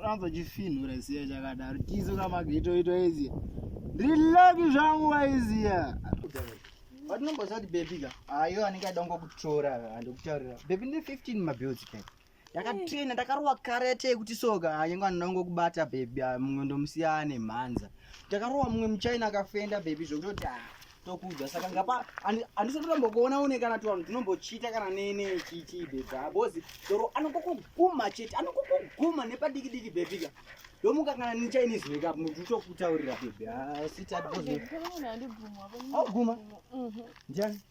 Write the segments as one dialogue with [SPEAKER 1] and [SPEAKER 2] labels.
[SPEAKER 1] anozochifinhura siya chakadaro tizo kamagitoito izi ndiri laki zvangu waiziya watinomboziva kuti bebi ka ayo anenge aida kungokutora andokutaurira bebi ndi 15 mabills peka ndakatraina ndakarowa kare yatee kuti soka anyenge ah, anoda ngokubata bhebhi ah, mumwe ndomusiyane mhanza ndakarowa mumwe muchina akafenda bhebhi zvokutoti ah, tokuudza saka ngapa handisatombokuona une kana tivanhu tinombochita kana nene chichii bhebhi abozi doro anokokoguma chete anokokoguma nepadikidiki bhebhika ndomuka kana nichinese wake up muti utokutaurira bhebhi asitaguma ndiani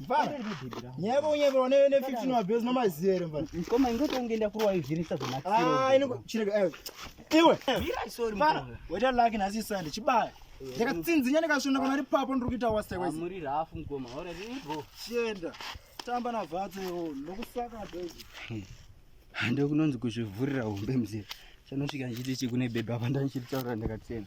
[SPEAKER 2] Mfana. Nyaya yako nyaya yako ne 15 wa base no mazero mfana. Mkoma ingoto ungeenda kurwa
[SPEAKER 1] izviri sa zona. Ah, ino chirega eh.
[SPEAKER 2] Iwe. Mira sorry mfana.
[SPEAKER 1] Weta lucky na
[SPEAKER 2] sisi sande chibaya. Ndakatsinzinya ndikashona kana ri papo ndiri kuita wase kwese. Muri rafu mkoma.
[SPEAKER 1] Ora rini bro. Chienda.
[SPEAKER 2] Tamba na vatse yo. Ndokusaka base.
[SPEAKER 1] Hande kunonzi kuzvivhurira hombe mzee. Chanosvika ndichiti chikune bebe apa ndandichitaura ndakatsena.